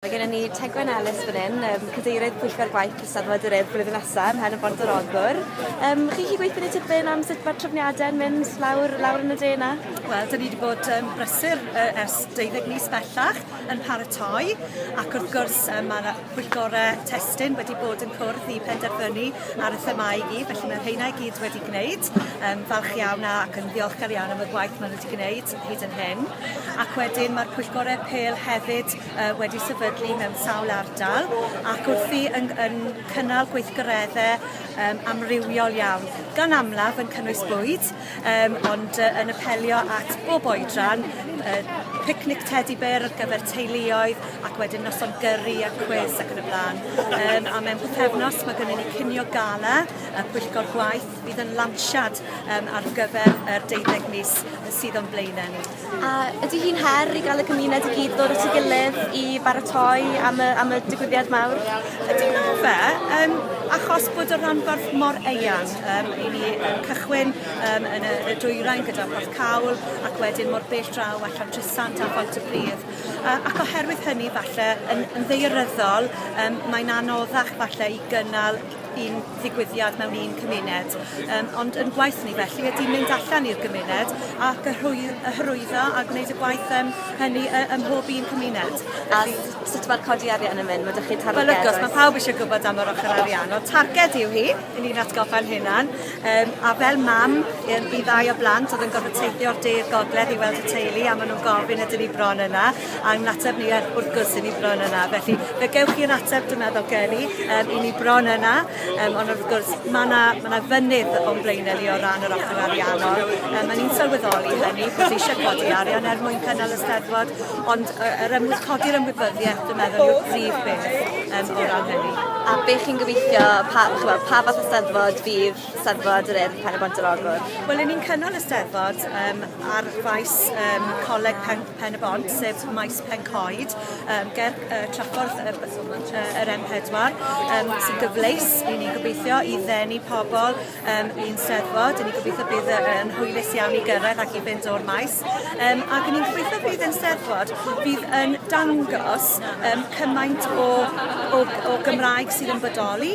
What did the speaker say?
Mae gennym ni Tegwen Ellis fan hyn, um, cadeirydd Pwyllgor Gwaith Cystadleuaeth yr Urdd blwyddyn nesaf, hen y Bont yr Ogwr. Um, chi chi gweithio ni tipyn am sut mae'r trefniadau'n mynd lawr, lawr yn y dena? Wel, dyn ni wedi bod um, brysur uh, ers 12 mis bellach yn paratoi, ac wrth gwrs um, mae pwyllgorau testyn wedi bod yn cwrdd i penderfynu ar y themau i gyd, felly mae rheina i gyd wedi gwneud. Um, falch iawn ac yn ddiolchgar iawn am y gwaith maen nhw wedi gwneud. hyd yn hyn, ac wedyn mae'r pwyllgorau pêl hefyd uh, wedi sefydlu mewn sawl ardal ac wrthi yn, yn cynnal gweithgareddau um, amrywiol iawn, gan amlaf yn cynnwys bwyd, um, ond uh, yn apelio at bob oedran, uh, picnic teddy bear ar gyfer teuluoedd ac wedyn noson gyrru a cwis ac yn y blaen. Um, a mewn pethefnos mae gennym ni cinio gala, y pwyllgor gwaith Bydd yn lansiad um, ar gyfer yr deuddeg mis sydd o'n blaenau ni. A ydy hi'n her i gael y cymuned i gyd ddod at ei gilydd i baratoi am y, am y digwyddiad mawr? Ydy na fe, um, achos bod y rhanbarth mor eang, um, i ni um, cychwyn um, yn, y, yn y dwyrain gyda Porth Cawl ac wedyn mor bell draw allan Trysant a Pont y Bryd. Uh, ac oherwydd hynny falle yn, yn ddeiryddol um, mae'n anoddach falle i gynnal un ddigwyddiad mewn un cymuned, yym ond yn gwaith ni felly ydy mynd allan i'r gymuned ac y hwy- y hyrwyddo a gwneud y gwaith yym hynny yy ym mhob un cymuned. A sut mae'r codi arian yn mynd? Mae dych chi'n targed? Wel wrth gwrs, mae pawb eisiau gwybod am yr ochr arian, ond targed yw hi, i ni'n atgoffa'n hunan, um, a fel mam i ddau o blant oedd yn gorfod teithio o'r de'r gogledd i weld y teulu a maen nhw'n gofyn ydyn ni bron yna, a yw'n ateb ni er wrth gwrs i ni bron yna. Felly fe gewch chi yr ateb dwi'n meddwl gen i, um, i ni bron yna, um, ond wrth gwrs mae yna ma fynydd o'n blaenau ni o ran yr ochr ariannol. Um, a ni'n sylweddoli hynny bod ni eisiau codi arian er mwyn cynnal y steddfod, ond uh, yr ymwy, codi'r ymwybyddiaeth dwi'n meddwl yw'r prif beth um, o ran hynny. A beth chi'n gobeithio, pa, pa fath o steddfod fydd Steddfod yr Urdd Pen-y-bont yr Ogwr. Wel 'yn ni'n cynnal y Steddfod yym ar faes yym Coleg Pen- Pen-y-bont sef maes Pen-coed yym ger yy traffordd yy yy yr M pedwar yym sy'n gyfleus i ni gobeithio i ddenu pobol yym i'n Steddfod 'yn ni'n gobeithio bydd yy yn hwylus iawn i gyrraedd ac i fynd o'r maes yym ag 'yn ni'n gobeithio bydd ein Steddfod fydd yn dangos yym cymaint o o o Gymraeg sydd yn bodoli.